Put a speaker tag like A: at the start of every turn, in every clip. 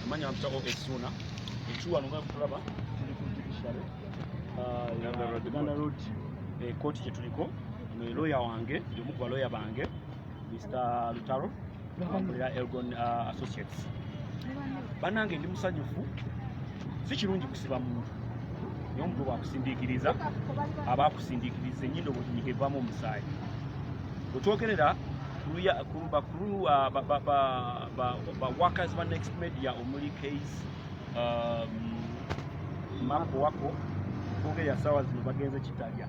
A: Manya mfita ko Esuna. Echuwa nunga kukulaba. Tuli ku judiciary. Ah, uh, Uganda Road. Eh, koti chetuliko. Ino lawyer wange, yomu kwa lawyer bange. Mr. Lutaro. Mkulira Elgon uh, Associates. Banange ndi musanyufu. Si kirungi kusiba muntu. Nyo mtu wa kusindikiriza. Aba kusindikiriza. Nyindo wajinikevamu msai. Utuokerera. Kuruya, kuruba, kuruwa, ba, ba, ba, ba, ba workers ba next media omuli case um, mako wako kuge ya sawa zino bagenze kitalya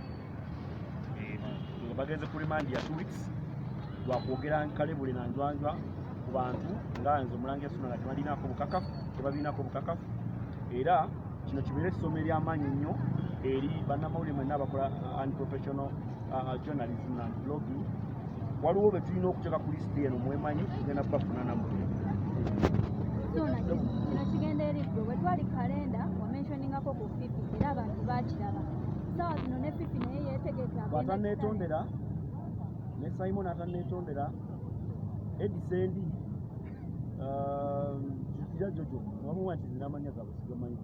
A: eh, nga bagenze ku remand ya two weeks lwa kwogera nkalebule na njwanjwa ku bantu nga nze omulangira suna nga tebalinaako bukakafu tebalinaako bukakafu era kino kibeere essomo ery'amaanyi nnyo eri bannamawulire mwenna abakola uh, unprofessional uh, uh, journalism and blogging waliwo betulina okuteka ku lisiti eno mwemanyi tugenda kubafuna namwe kino
B: kigenda eriggwe bwe twali kalenda wamenshoningako ku fifi era abantu bakiraba saawa zino ne fifi naye yetegeka atanetondera
A: ne simon atanetondera edisendi kira um, jojo wamuwa nti zinamanya gabwe sigamanyi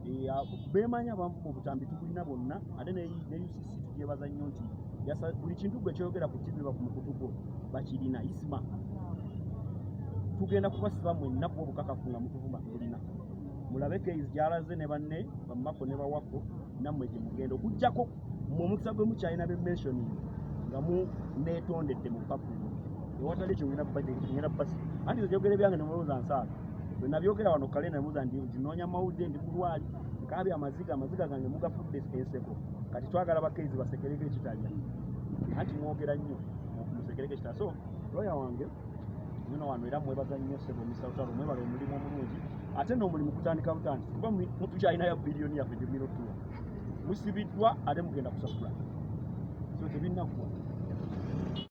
A: eh, bemanya bamu mu butambi tukulina bonna ate ne ucc Tujebaza nnyo nti buli kintu gwe kyoyogera ku TV ba ku mukutu gwo bakirina isma tugenda kubasiba mwenna kuba obukakafu nga mutuvuma tulina mulabe keizi gyalaze ne banne bamako ne bawako nammwe gye mugenda okuggyako mu omukisa gwe mukyalina be mentioning nga mu neetondedde mu papulo ewatali ekyo ngenda kubagenda basi anti ebyogere byange ne mulowooza nsaaga bwe nabyogera wano kale namuza ndi ndinoonya mawulire ndi mulwali kaabya amaziga amaziga gange mugafudde enseko kati twagala bakezi basekereko ekitanya anti mwogera nnyo musekereko ekitanya so loya wange nyina wano era mwebaza nnyo sebo misawutalo mwebala omulimu omulungi ate n'omulimu kutandika butandisi kuba mutukyalinayo biliyoni yaffe gyemulina okutuwa musibiddwa ate mugenda kusasula so tebinnakuwa